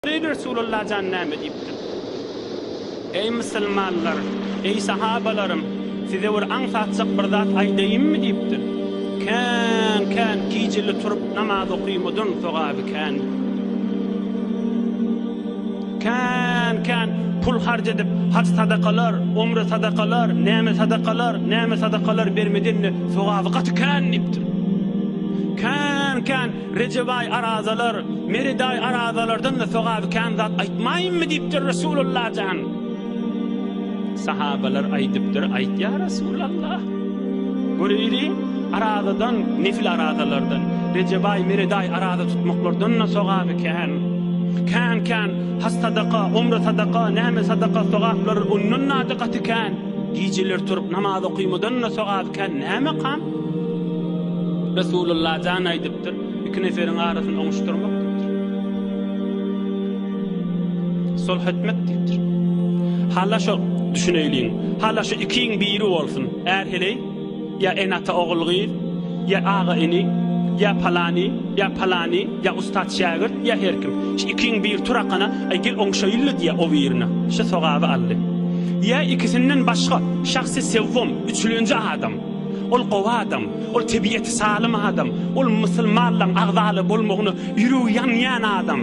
Beýik Resulalla jan näme diýipdir? Eý musulmanlar, eý sahabalarym, size bir aňsatjak bir zat aýdaýynmy diýipdir. Kän, kän gijeli turup namaz okymadyň sogaby kändir. Kän, kän pul harç edip haj sadakalar, umre sadakalar, näme sadakalar, näme sadakalar bermedinde sogaby gaty kän diýipdir. Kän, kän Rejebaý arazalar, Meredaý arazalardan-da sogaby kän zat aýtmaýynmy diýipdir Resulalla jan. Sahabalar aýdypdyr, aýt ýa Resulalla. Göreýli, arazadan, nefil arazalardan, Rejebaý, Meredaý araza tutmaklardan-da sogaby kän. Kän-kän has sadaka, omra sadaka, näme sadaka sogaplary ondan-da gaty kän. Gijeler turup namaz okymadan-da sogaby kän. Nämekam? Resulullah jan aýdypdyr, Iki neferiň arasyny oňuşdyrmak diýipdir. Sulh etmek diýipdir. Hala şo, düşüneýliň, hala şu ikiň biri bolsun, är-heleý, ýa ene-ata ogul-gyz, ýa aga-ini, ýa palany, ýa palany, ýa ussat-şägirt, ýa her kim. Şu ikiň biri turakana, Aý, gel oňuşaýyl-la diýýär o birine. Şu sogaby aldy. Ýa ikisinden başga, şahsy sewwum, üçlenji adam. Ol gowy adam, ol tebiýeti salym adam, ol musulmanlaň agzalary bolmagyna ýüregi ýanýan adam,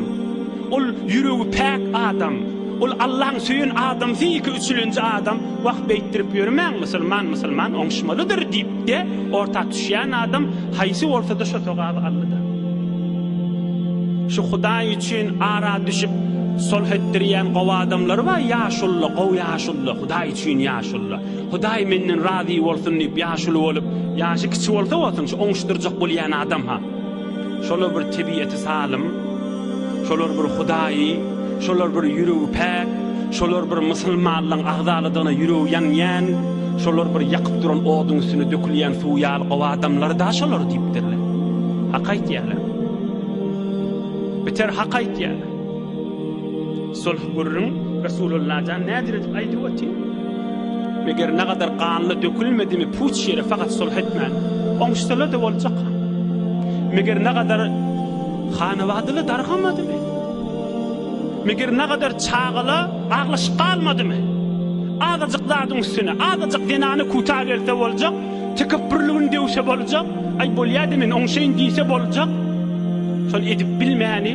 ol ýüregi päk adam, ol Allaň söýen adamsy iki üçülenji adam, wah beýtdirip ýörmäň musulman musulman oňuşmalydyr diýipde orta düşýän adam haýsy bolsada şo sogaby aldyda. Şu hudaý üçin ara düşüp solh etdirýän gowy adamlar bar ýaşulla gowy ýaşulla hudaý üçin ýaşulla. Hudaý menden razy bolsun diýip ýaşuly bolup, ýaşy kiçi bolsa bolsun, şu oňuşdyrjak bolýan adam-ha. Şolar bir tebiýeti salym, şolar bir Hudaýy, şolar bir ýüregi päk, şolar bir musulmanlygyň agzaladygyna ýüregi ýanýan, şolar bir ýakyp duran oduň üstüne dökülýän suw ýaly gowy adamlar-da şolar diýipdirler. Hak aýtýarlar. Biter hak aýtýarlar. Sulh gürrüň Resulullah jan nädir edip aýdyp oty. Meger nagadar ganly dökülmedimi puç ýere fakat sulh etmän oňşsalada boljak ha. Meger nagadar hanawadyla dargamadymy. Meger nagadar çagala aglaşyk galmadymy. Azajyk zadyň üstüne azajyk zenany kuta gelse boljak tekepbürligini döwse boljak aý bolýady men oňşaýyn diýse boljak şony edip bilmäni.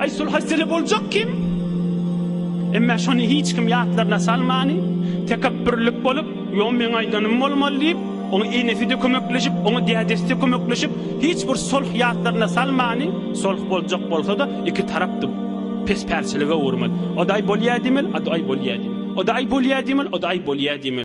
Aý şol howsala boljak kim? Emma şony hiç kim ýatlaryna salmany, tekepbürlik bolup, ýo meň aýdanym bolmaly diýip, oňa enesi-de kömekleşip, oňa dädesi-de kömekleşip, hiç bir sulh ýatlaryna salmany, sulh boljak bolsa-da, iki tarap-da pespälçilige öwürmeli. O-da aý bolýa diýmeli, o-da aý bolýa diýmeli. O-da aý bolýa diýmeli, o-da aý bolýa diýmeli.